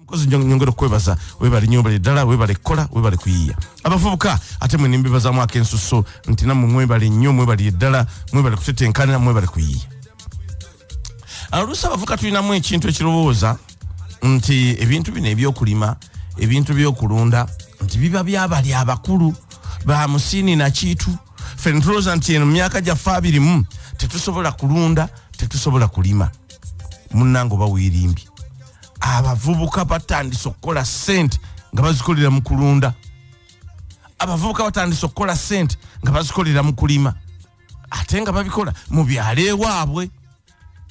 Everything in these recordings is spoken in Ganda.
mukozi nyongera okwebaza webale nyo bali ddala webale kukola webale kuyiiya abavubuka ate mwe nimbibazamu akensuso nti namwe mwebale nnyo mwebali eddala mwebale kutetenkanira mwebale kuyiiya oluusi abavuka tulinamu ekintu ekirowooza nti ebintu bino ebyokulima ebintu byokulunda nti biba byabali abakulu ba musiini nakiitu fe ntulooza nti eno myaka gyaffe abirimu tetusobola kulunda tetusobola kulima munnange oba weerimbye abavubuka batandise okukola sente nga bazikolera mu kulunda abavubuka batandise okukola sente nga bazikolera mu kulima ate nga babikola mu byalo ewaabwe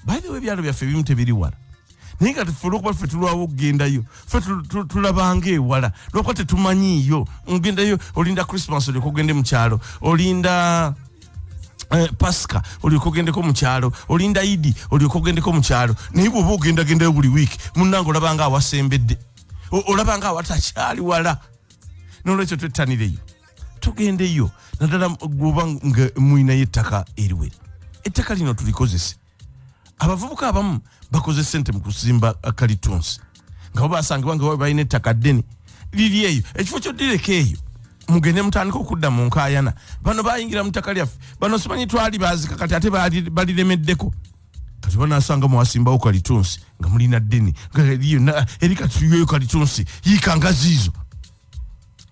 baithewa ebyalo byaffe ebimu tebiri wala naye nga tufula okuba ffe tulwawo okugendayo fe tulabanga ewala lwakuba tetumanyiiyo ogendayo olinda christmas olyoka ogende mukyalo olinda Eh, pasika olyoka ogendeko mukyalo olinda idi olyoka ogendeko mukyalo naye bwoba ogendagendayo buli wiiki munange olabanga awasembedde olabanga awatakyali wala nolwekyo twettanireyo tugendeyo naddala gwoba nga mulinayo ettaka eriwera ettaka lino tulikozese abavubuka abamu bakoze sente mu kusimba kalitunsi nga babasangibwa nga balina ettaka ddene liri eyo ekifo kyoddireko eyo mugende mutandika okudda mu nkayana bano bayingira mutaka lyaffe bano simanyi twali bazika kati ate baliremeddeko kati banasanga mwasimbawo kalitunsi nga mulina ddeni eri katiyoyo kalitunsi yikangaziizo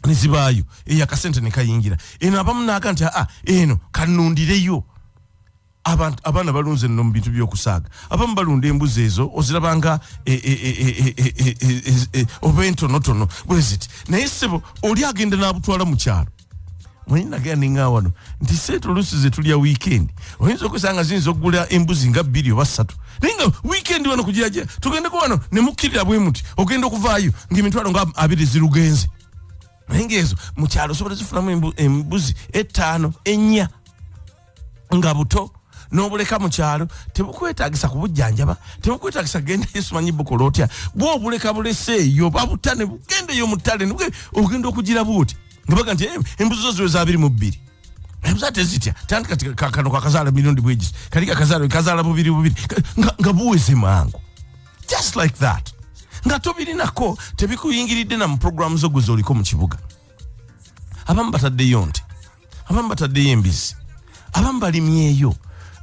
nezibaayo eyo akasente nekayingira eno abamu naaga nti aa eno kanundireyo abantu abaana balunze no mubintu byokusaaga abamu balunda embuzi ezo ozirabanga e, e, e, oba entonotono bweziti naye sebo oli agenda nabutwala mukyalo mwenye nagea ninga wano nti setu lusi zetulia weekend onyinza okusanga zinza okugula embuzi nga bbiri oba ssatu naye nga weekend wano kugiragira tugendeko wano nemukkirira bwe muti ogenda okuvaayo ngaemitwalo nga abiri zirugenze naye ngaezo mukyalo osobola zifunamu embuzi ettaano ennya nga buto nobuleka mukyalo tebukwetagisa kubujjanjaba tebukwetagisa genda yesu manyi bukola otya bwobuleka bulese eyo babuta ne bugenda eyo mutale ne ogenda okugira buti nga baga nti eh, embuzi zo ziwe zabiri mu bbiri embuzi ate zitya tandi kati kano kakazaala mirundi bwegisi kali kakazaala kazaala bubiri bubiri nga buweze mangu just like that nga tobirinako tebikuyingiridde na mu programu zo gwe zoliko mu kibuga abamu bataddeyo nti abamu bataddeyo embizi abamu balimyeyo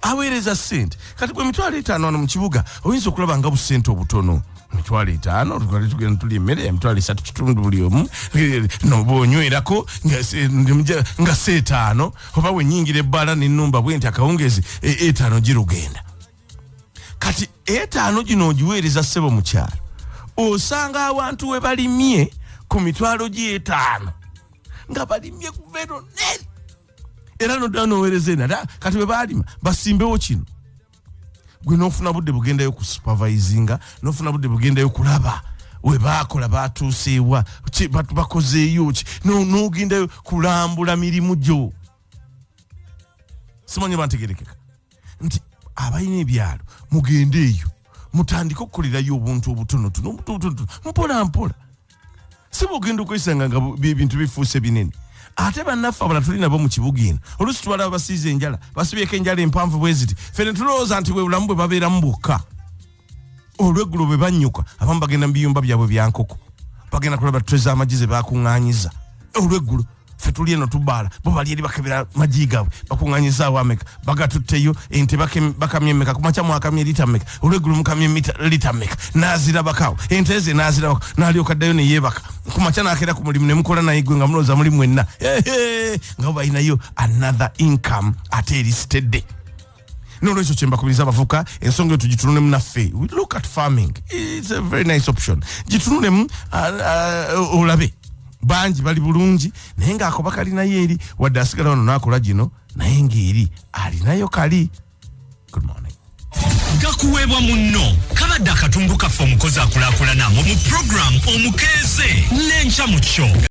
aweereza sente kati gwe emitwalo etaano wano mu kibuga oyinza okulaba nga busente obutono emitwalo etaano twali tugenda tuli emmere emitwalo esatu kitundu buli omu eh, nobonywerako nga seetaano oba wenyingira ebbaala nenumba bwenti akawungezi eh, etaano girugenda kati etaano gino ogiweereza ssebo mukyalo osanga abantu we balimye ku mitwalo gy'etaano nga balimye kuvero nene era nodda noweereza enada kati bwe baalima basimbewo kino gwe nofuna budde bugendayo ku supervisinga nofuna budde bugendayo kulaba webakola batuuseewa bakozeeyo ki nogendayo kulambula mirimu gyo simanyi bantegerekeka nti abalina ebyalo mugende eyo mutandike okukolerayo obuntu obutonotono obutonotono mpola mpola si bwogenda okwesanga nga ebintu bifuuse binene ate bannaffe abala tuli nabo mu kibuga eno oluusi twala abasiiza enjala basibyeko enjala empanvu bwe ziti fene tulowooza nti bwe bulamu bwe babeeramu bwokka olweggulo bwe bannyuka abamu bagenda mu biyumba byabwe bya nkoko bagenda kulaba twe z'amagi ze baakuŋŋaanyiza olweggulo ffe tuli eno tubaala bo bali eri bakebera magi gaabwe bakuŋŋaanyizaawo ameka bagatutteyo ente bakamya emmeka kumakya mwakamya lita meka olweggulo mukamya lita meka n'azirabakaawo ente ze n'azirabako n'alyoka ddayo ne yeebaka kumakya n'akeera ku mulimu ne mukola naye gwe nga mulooza mulimu enna nga bo balinayo another income ate erisitedde nolwekyo kyembakubiriza abavuka ensonga eyo tugitunulemu naffe look at farming its a very nice option gitunulemu uh, uh, olabe bangi bali bulungi naye ngaakoba kalinayo eri wadde asigala wano nakola gino naye ngaeri alinayo kali good morning gakuweebwa munno kabadde akatundu kaffe omukozi akulakulana mu mu puroguramu omukeeze n'enkya mu kyo